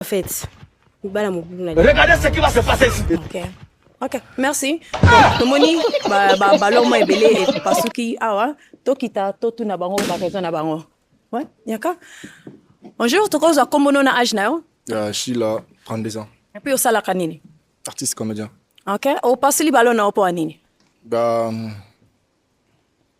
En fait, bala mobulu na Regardez ce qui va se passer ici. OK. Ok, merci. Donc, tomoni ba ba ballon mo ebele epasuki awa tokita totuna bango ba raison na bango. Ouais, yaka. Bonjour, tokozwa kombo no na âge na yo? Ya Sheila, 32 ans. Et puis osalaka nini? Artiste comédien. Ok, opasuli ballon na yo mpo ya nini? Ba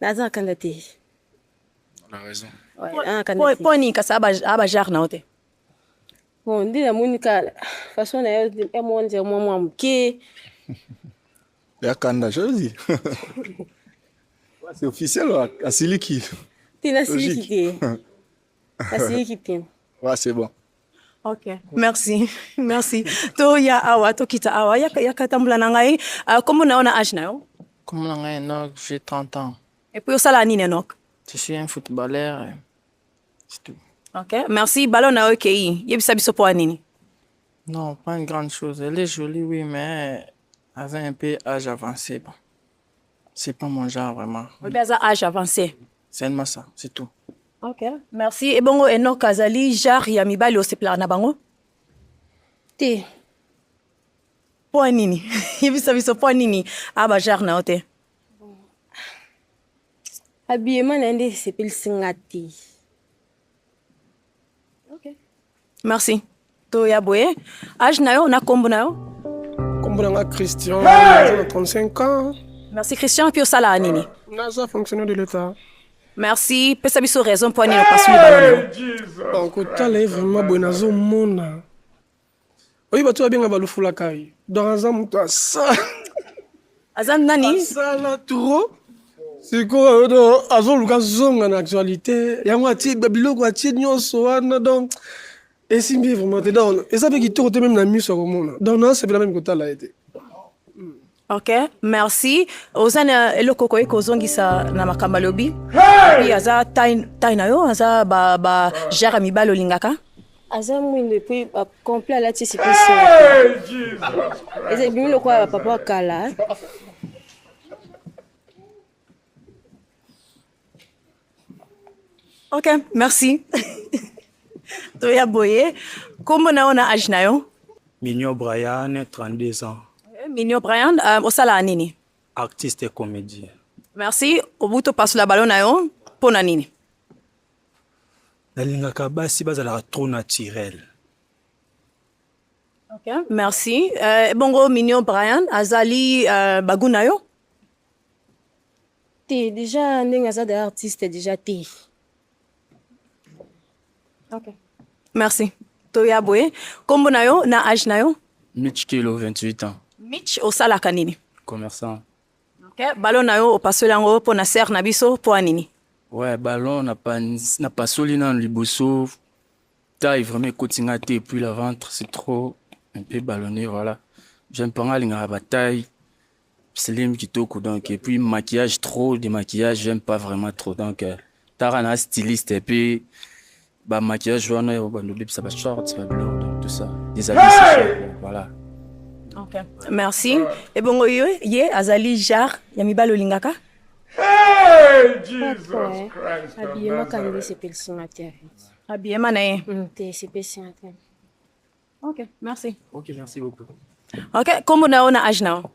Naza kanga te. On a raison. Ouais, po ni kasa aba aba jar na ote. Bon, ndi na moni ka façon na yo ya monze mwa mwa moke. Ya kanda jozi. C'est officiel asiliki. Tina siliki te. Asiliki te. Ouais, c'est bon. Ok, merci, merci. To ya awa, to kita awa, ya ya katambula na ngai. Uh, kombo na yo na âge na yo? Kombo na ngai Enoch, j'ai 30 ans. Et puis osala nini Enoch? Je suis un footballeur. Euh, c'est tout. Ok, merci. Ballon na yo ekei. Yebisa biso po nini? Non, pas une grande chose. Elle est jolie, oui, mais elle a un peu âge avancé. Bon. C'est pas mon genre vraiment. Oyebi aza âge avancé. Seulement ça, c'est tout. Ok, merci. Et bongo Enoch azali genre ya mibali osepelaka na bango? Te. Mpo nini? Yebisa biso mpo nini aba genre na yo te? Habillement na ye nde esepelisi nga te. Okay. Merci. To ya boye. Age na yo na kombo na yo? Kombo na nga Christian, hey! 35 ans. Merci Christian, puis osala nini? Naza fonctionnaire de l'État. Merci, pesa biso raison mpo nini opasuli baloni. Okotala ye vraiment boye nazomona oyi bato babenga balufulakai donc aza moto asa aza nani asala trop sikoyo do azoluka zonga na actualité yango atie biloko atie nyonso wana donc esimbi ye vraiment te donc eza mpe kitoko te meme na miso ya komona donc naasepela meme kotala ye te Ok, merci. Oza na eloko okoki kozongisa na makambo alobi? Hey! Aza tai na yo, aza ba, ba jare ya mibali olingaka? aza mwindo epuis complet alati sipisi eza ebimi lokola bapapa kala Ok, merci. Toya boye. Kombo na ona age na yo? Minio Brian, 32 ans. Eh, Minio Brian, euh, osala nini? Artiste et comédien. Merci. Obuto passe la ballon na yo. Pona nini? Nalingaka basi bazalaka trop naturel. Ok, merci. Euh, bongo Minio Brian, azali euh, bagu na yo? te dejà ndenge aza dejà artiste dejà te ok merci toya boye nkombo na yo na age na yo mitch kelo 28 ans mitch osalaka nini commerçant ok balo na yo opasoli yango mpo na serre na biso mpo ya nini ouais ballon napasoli nanu liboso taille vraiment ekoti nga te puis la ventre c'est trop un peu ballonné voilà jeune mpo nga alingaka bataille Slim kitoko donc et puis maquillage trop de maquillage j'aime pas vraiment trop donc euh, tara na styliste et puis ba maquillage wana ya ba ndobe ça ba shorts ba blonde donc tout ça des habits hey voilà okay. merci et bon yo ye azali jar ya mibalo lingaka Hey, Jesus Papa, Christ habillement kangi sepelisi nga te habillement na ye te sepelisi nga te Ok, merci. Ok, merci beaucoup. Ok, kombo na yo na age na yo?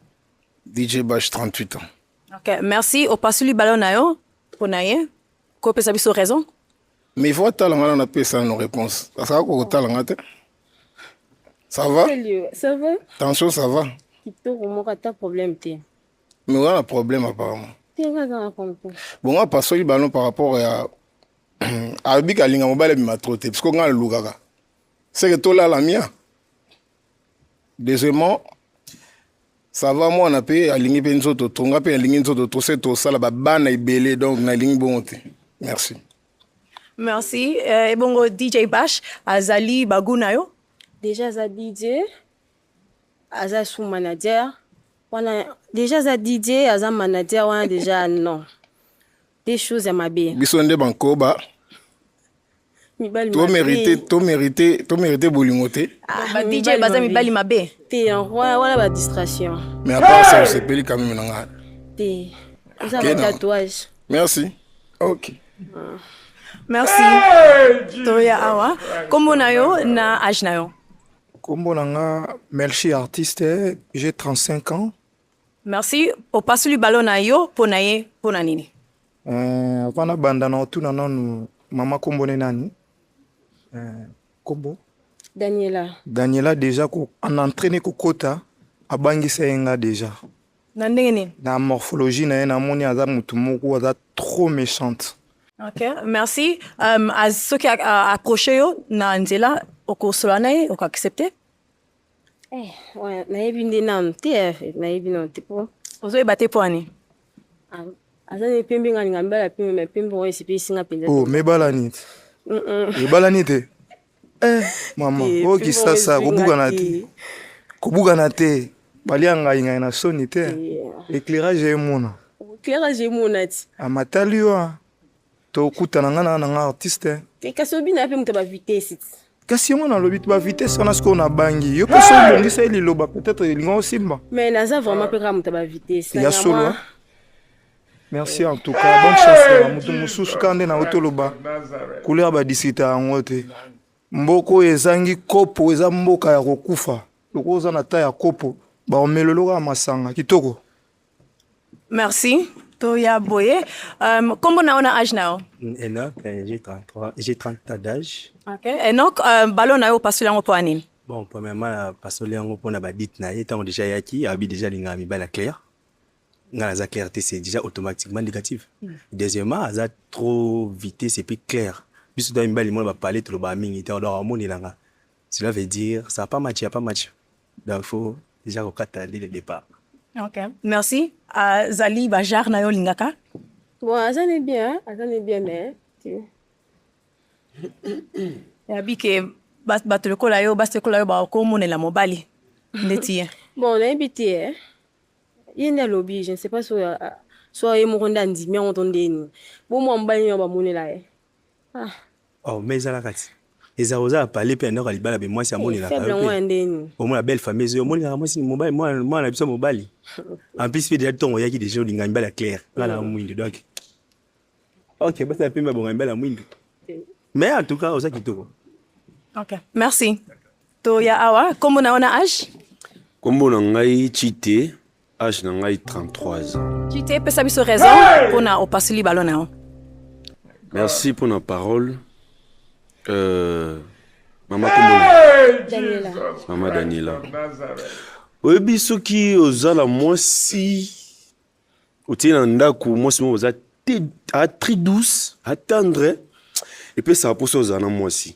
DJ Bash 38 ans. Ok, merci. Opasuli ballon na yo mpo na ye kopesa biso raison? Mais il faut atala nga na napesa no réponse. Asala kokotala nga te. Ça va? Ça va? Tension, ça va? Kitoko moko ata problème te. Mais oza na problème apparemment. Te nga aza na problème. Bon, nga pasoli ballon par rapport ya alobi kalinga mobali abima trop te parce que nga nalukaka seke tolala mia deuxièmement sava mwana mpe alingi mpe nzoto to nga mpe alingi nzoto to se tosala babana ebele donc nalingi bongo te merci merci eh, ebongo dj bash azali bagu na yo deja aza dj aza sous manager wana deja aza dj aza manager wana deja non Des choses ya mabe. Biso nde bankoba. To mérité, to mérité, to mérité bolingo te. Ah, ba DJ baza mibali mabe. Te en roi, wala ba distraction. Mais à part ça, c'est peli quand même na nga. Te. Oza ba tatouage. Merci. OK. Ah. Merci. Hey, Toya awa. Kombo na yo na âge na yo. Kombo na nga Melchi artiste, j'ai 35 ans. Merci. Opasuli balo na yo mpo na ye mpo na nini? Eh, avant nabanda na otuna nanu mama kombo ne nani eh, kombo daniela daniela deja ko en entraîne kokota abangisa ye nga deja na ndenge nini na morphologie na ye namoni aza motu moko aza trop méchante ok merci um, soki accroche yo na nzela okosola na ye okoaccepte Eh, ouais, nayebi nde nanu te eh, nayebi nanu te po ozoyeba te mpo ani ah, aza nde pembe nga linga mibala pembe me pembe oyo esepelisi nga mpenza oh, mebalani te ebalani te eh, mama oyo oh, kisasa kobukana te kobukana te balia ngai ngai na soni te éclairage emona éclairage emona ti amatali ah, yo ah. tokutana nga na nanga artiste eh, kasi obina yape moto ba vitesse kasi yango nalobi ba vitesse wana sikoyo nabangi yo mpe so obongisa ye liloba peut-être elinga osimba mais naza vraiment mpe kaka moto ba vitesse ya solo eh. merci en tout cas bonne chance na moto mosusu kaka nde nayo toloba couleur badisita yango te mboka oyo ezangi kopo eza mboka ya kokufa lokola oza na ta ya kopo baomeloloka masanga kitoko Merci. Toya Boye. Euh, comment on a âge now? Mm, Enoch, euh, j'ai 33, j'ai 30 ans d'âge. OK. Enoch, euh, ballon na yo pasoli yango pona nini? Bon, premièrement, euh, pasoli yango pona ba dit na ye tango déjà yaki, abi déjà linga mi bala clair. Nga la clarté c'est déjà automatiquement négatif. Mm. Deuxièmement, aza trop vitesse et puis clair. Biso to mi bali mo ba parler trop ba mingi, to do amoni langa. Cela veut dire ça pas match, pas match. Donc faut déjà kokata dès le départ. OK. Merci. Uh, zali ba jar na yo lingaka. Bon, aza ne bien, aza ne bien mais ya bike bato lokola yo basi lokola yo bakomonela mobali ndeti ye bon nayebi te eh. ye nde alobi je ne sais pas soki soki ye moko nde andimi yango to ndeni bo mwa mobali nini bamonela ye Ah. Oh, mais ezala kati. Eza oza pale pe ndako libala be mwasi amonela ka. Faible mwa ndeni. Au moins belle famille zo monela mwasi mobali mwa mwa na biso mobali. En plus pe déjà tongo yaki déjà linga mbala clair. Ngala mwindi donc. OK, basa pe mabonga mbala mwindi. Mais en tout cas oza kitoko. OK. Merci. To ya awa kombo na ona age? Kombo na ngai Chite. Age na ngai 33 ans. Kite pesa biso raison hey! pona opasuli balo na yo. Merci pona parole. Euh, mama hey! Daniela. Mama Daniela. Oyebi soki oza na mwasi otie na ndako mwasi moko oza très douce atendre epesaka mposa ozala na mwasi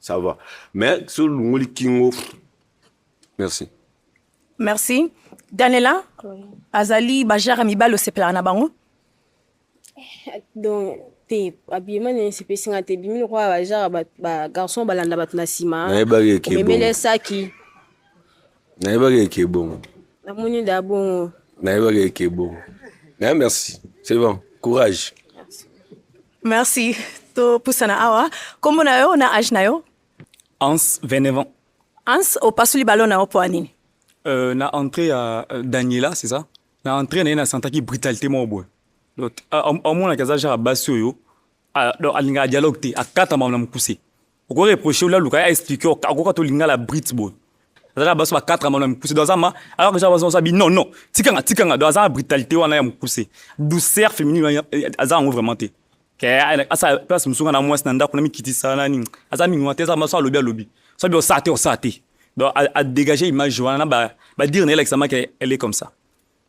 ça va mais so olongoli kingo merci merci danela oui. azali bajara mibali osepelaka na bango eh, donc te abima na esepesi nga te ebimi lokola bajara bagarçon balanda bato na nsima omemeli esaki nayebaki eke ebongo namoni da bongo nayebaki eke ebongo naye merci c'est bon courage Merci. Topusana awa. Kombo na yo na age na yo? Hans, 29 ans. Hans, opasuli ballon na yo mpo ya nini? Euh, na entrée ya euh, Daniela, c'est ça? Na entrée na ye nasentaki brutalité moko boye. Donc, a- a- amonaki aza genre ya basi oyo a- donc alingaka dialogue te, akatama na mokuse. oko reproche ola luka ya expliquer akoka to lingala brit boy azaka baso ba 4 amana mukuse do azama alors que baso baso bi non non tikanga tikanga do azama brutalité wana ya mukuse douceur féminine azanga ngo vraiment te ke asa place musunga na mwasi na ndako na mikitisa na nini aza mingi wana te azaka baso alobi alobi so bi osa te osa te donc à, à dégager image wana ba ba dire na elakisa maka elle est comme ça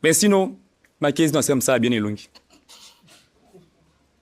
mais sinon ma case non c'est comme ça bien elongi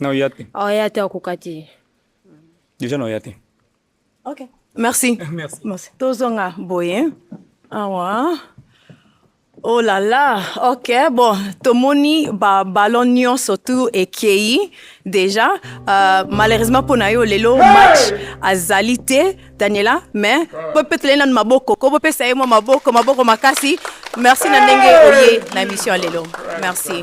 na oya te oya te akoka te deja na oya te ok merci merci, merci. tozonga boye awa oh la la ok bon tomoni babalon nyonso tu ekei déjà euh, malheureusement mpo na yo lelo match azali te daniela mais mpo mpe tolei nanu maboko ko bopesa ye mwa maboko maboko makasi merci na ndenge oye na émission ya lelo merci